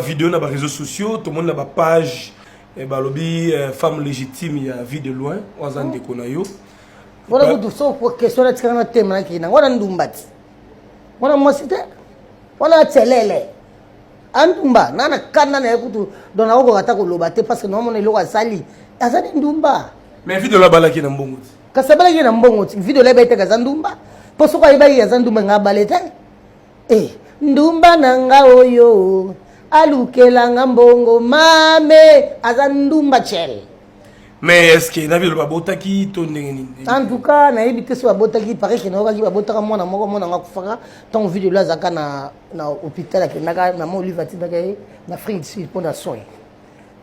video na ba réseaux sociaux tomoni na ba page eh, balobi eh, femme légitime ya vie de loin oyo aza ndeko na yo wana kutu so question natikaka na tema nakei nango wana ndumba ti wana mwasi te wana acelele andumba na na kanda na ye kutu don akokoka ata koloba te parce que naomona eloko asali aza ni ndumba mais vie de loin abalaki na mbongo ti kasi abalaki na mbongo ti vie de loin ebetaka aza ndumba mpo soki ayebaki aza ndumba nga abale te Eh, ndumba na nga oyo alukela nga mbongo mame aza ndumba cel mais eske na bino babotaki to ndenge nini en tout cas nayebi te so babotaki pare ke nayokaki babotaka mwana moko mwana yango akufaka ntango vide elo azalaka na, na hôpital akendaka mama olive atindaka ye na afrique du sud mpo na soin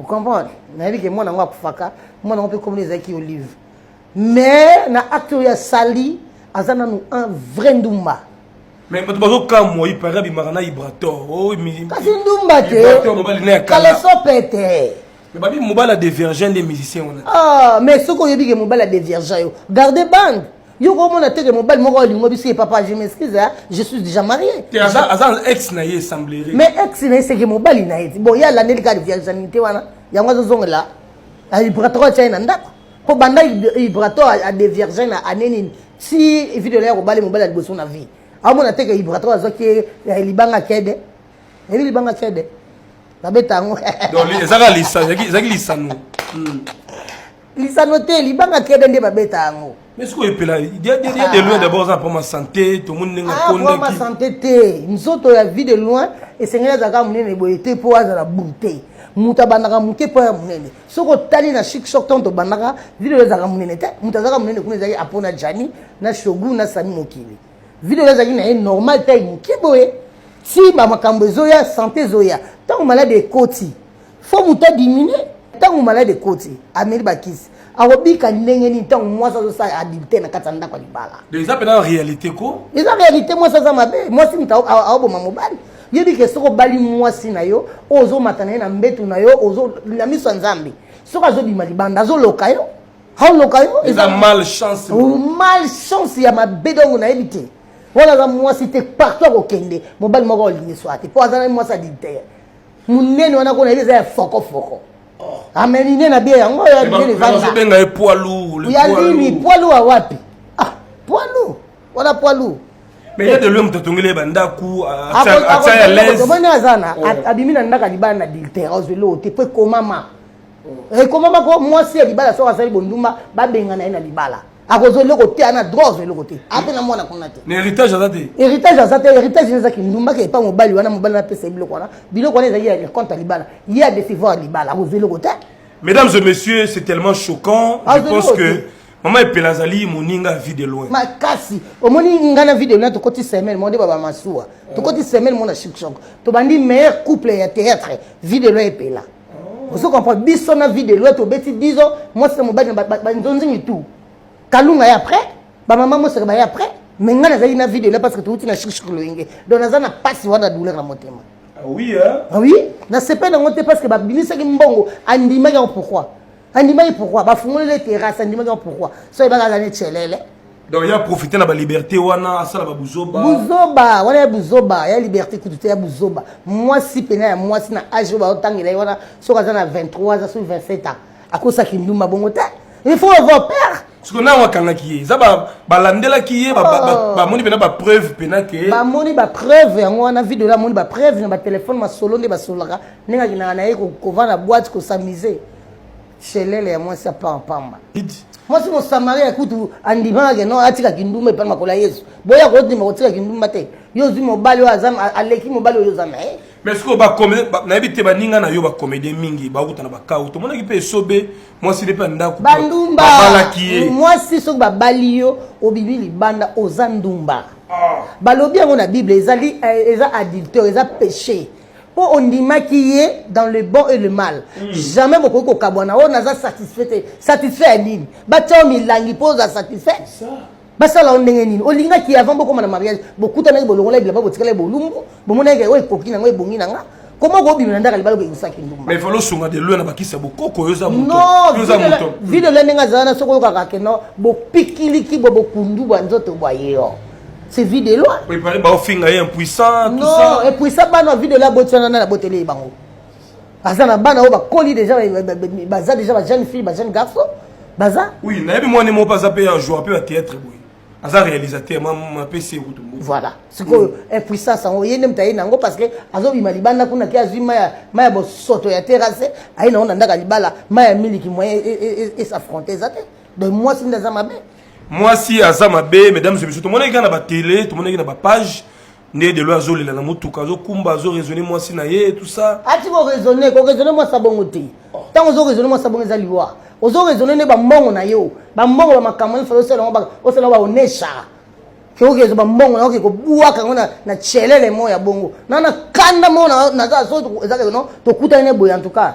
ocomprendre nayebi ke mwana yango akufaka mwana yango mpe komona ezalaki olive mais na acte oyo asali aza nanu un vrai ndumba Mais bato bazokamwa ipare abimaka na ibrator oh, kasi ndumba te kaleso pete babi mobali ya devirgin nde musicien wana ah, mais soki oyebi ke mobali ya devirgin yo garde bande yo komona teke mobali moko alingo biso ye papa je m'excuse je suis déjà marié aza ex na ye semblerie mais ex na ye seke mobali na ye ti bon ye alandeli kaka devirginité wana yango azozongela ibrator atia ye na ndako mpo banda ibrator adevirgin na ane nini si video ya kobali mobali ya liboso na vie amona te ke vibratoire azwaki eh, libanga kede eyebi libanga kede babeta yango ezaki lisano hmm. lisano te libanga kede nde babeta yango mais sikoyo epela dia de loin ah. d'abord aza mpoma santé tomoni ndenge akondakima ah, santé te nzoto ya vie de loin esengeli azalaka monene boye te mpo azala bute moto abandaka moke mpo ya monene soki otali na chic shop ntango tobandaka video oyo ezalaka monene te moto azalaka monene kuna ezalaki apo na jani na shogu na sami mokili video oyo ezalaki na ye normal tai moke boye ti bamakambo ezoya sante ezoya ntango maladi ekoti fo moto adiminue ntango maladi ekoti ameli bakisi akobika ndenge nini ntango mwasi azosala adilte na kati ya ndako ya libala eza mpenza réalité ko eza réalité mwasi aza mabe mwasi moto aoboma mobali yebi ke soki obali mwasi na yo oyo ozomata na ye na mbetu na yo na miso ya nzambe soki azobima libanda azoloka yo aoloka yo eza malchance malchance ya mabe dongo nayebi te wana aza mwasi te partout akokende mobali moko olingi swa te mpo aza na mwasi adintere monene wana kona yebi eza ya fokofoko amenine na bie yango oyo ya nini poilu ya nini poilu ya wapi ah poilu wana poids lourd mais ye de loin moto atongeli ye bandako atia ya lesomoni aza na oh. abimi na ndako alibala na adultère ozweli oyo te mpo ekomama oh. ekomama mpo mwasi ya libala soki asali bondumba babengana ye na libala akozwa eloko te ana droit ozwa eloko te ape na mwana kuna te na héritage aza te héritage aza te héritage eza kindumba ke epa mobali wana mobali wana apesa ye biloko wana biloko wana ezali ya compte ya libala ye adecevoir libala akozwa eloko te mesdames et messieurs c'est tellement choquant je pense que mama epela azali moninga ya vie de loin makasi omoni ngai na vie de loin tokoti semaine monde baba masuwa tokoti semaine mona shikshok tobandi meilleur couple ya théâtre vie de loin epela oh. ozo comprendre biso na vie de loin tobeti 10 ans mwasi na mobali na banzonzingi tout kalunga ya après bamama mosaka baye après me ngai nazalaki na vie de loin parce que touti na shikshok loyenge donc naza na mpasi wana douleur na motema ah oui hein? Ah oui nasepeli yango te parce que babimisaki mbongo andimaki yango pourquoi andimaki pourquoi bafungolele terrasse andimaki yango pourquoi so ayebaka aza ne celele donc ya profite na baliberté wana asala babuzoba buzoba wana ya buzoba ya liberté kutu te ya buzoba mwasi mpena ya mwasi na age oyo baotangela ye wana soki aza na 23 aza soki 27 ans akosaki ndumba bongo te il faut avoir peur siko ntango akangaki ye eza balandelaki ye oh. bamoni mpena bapreuve mpena ke bamoni bapreuve yango wana video wana amoni bapreuve na batelefone masolo nde basololaka ndenge akendaka na ye kovanda boite kosamise shelele ya mwasi apaa pamba mwasi mosamaria kutu andimaka ke no atika kindumba epai makola yesu boya kodima kotika kindumba te yo ozwi mobali oyo aleki mobali oyo oza na ye mais sikoyo nayebi te baninga na yo bacomédien mingi bauta na bakau tomonaki mpe esobe mwasi nde mpe ya ndako bandumbabalaki ye mwasi soki babali yo obibi libanda oza ndumba ah. balobi yango na bible ezali eh, eza adulteur eza péché mpo ondimaki ye dans le bon et le mal mm. jamais bokoki kokabwana oyo oh, naza satisfait te satisfait ya nini batya yo milangi mpo oza satisfait basala yo ndenge nini olingaki avant bokoma na mariage bokutanaki bolongolaki bilamba botikalaki bolumbu bomonaki oyo oh, ekoki na ngo ebongi na nga koma okobima na ndaka libala okekisaki ndumbaosunga de lue na bakisi ya bokoko oyo eza moto vide lue ndenge azala na soki oyokaka keno bopikiliki bwa bokundu bwa nzoto bwa ye yo c'est vie de loi prépare ba ofinga ye impuissant tout ça non impuissant bana vie de loi botsana na botele bango aza na bana oyo bakoli déjà baza déjà ba jeune fille ba jeune garçon baza oui nayebi mwana moko aza mpe ya joueur mpe ya théâtre boye aza réalisateur mapesi ye kutu voilà sikoyo mm. impuissance yango ye nde moto aye na yango parce que azobima libanda kuna ke azwi mai ya bosoto ya terrasse aye na yango na ndaka libala mai ya miliki moyen esaffronte e, e, e, eza te donc mwasi nde aza mabe mwasi aza mabe mesdames et messieurs tomonaki kaka na batele tomonaki na bapage nde delo azolela na motuka azokumba azoraisonne mwasi na ye tout ça ati koraisonne koraisonne mwasi abongo te ntango ozoraisonne mwasi abongo eza liwa ozoraisonne nde bambongo na yo bambongo ba makambo nini fala osala yango osala yango baonesha keokezo bambongo na yo kekobwaka yango na celele moko ya bongo na na kanda moko naza so ezaka no tokutani ne boye en tout cas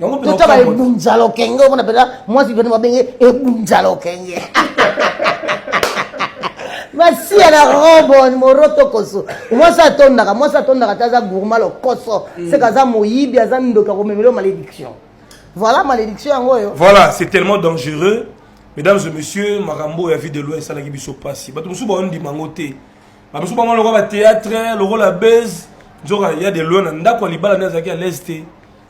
totaba ebunza lokenge omona mpenza mwasi pene babenge ebunza lokenge masiya na robon moroto koso mwasi atondaka mwasi atondaka te aza gourma lokoso mm. seka aza moyibi aza ndoki akomemelo malédiction voilà malédiction yango oyo voilà c'est tellement dangereux mesdames et messieurs makambo oyo ya vie de loin esalaki biso mpasi bato mosusu baondima yango te bato mosusu bango lokola bathéâtre lokola base nzoka ya de loin na ndako ya libala nde azalaki alaise te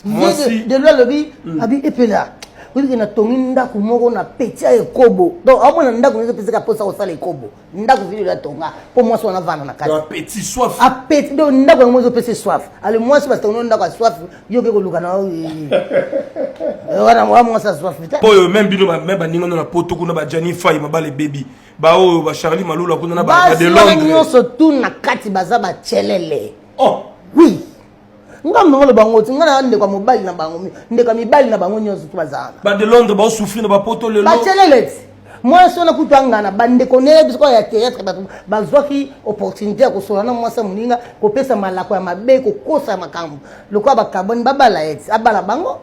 Vieux de loi alobi hmm. abi epela oyike na tongi ndako moko na peti ya ekobo donc aomona ndako nyonso epesaka mposa kosala ekobo ndako vile ya tonga mpo mwasi wana avanda na katiapeti donc ndako yango ezopesa soif ale mwasi batongi ndako ya soif yo oke koluka na eh, eh, wana wa mwasi ya soif te oyo meme bino meme baninga no na poto kuna bajani fai mabala ebebi baoyo bacharli malula kuna na badelondre nyonso tu na kati baza bacelele oh oui nga mama loba ngoti nga na ndeko mobali na bango ndeko mibali na bango nyonso to bazala ba de londres ba souffrir na ba poto lelo ba cheleleti mwasi wana kutu angana bandeko neye biso ya théâtre bato bazwaki opportunité ya kosola na mwasi ya moninga kopesa malako ya mabe kokosa ya makambo lokola bakaboni babala ye ti abala bango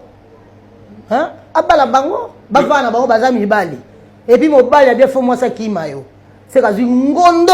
abala bango bavana na bango baza mibali epuis mobali abia fo mwasi akima yo seka azwi ngondo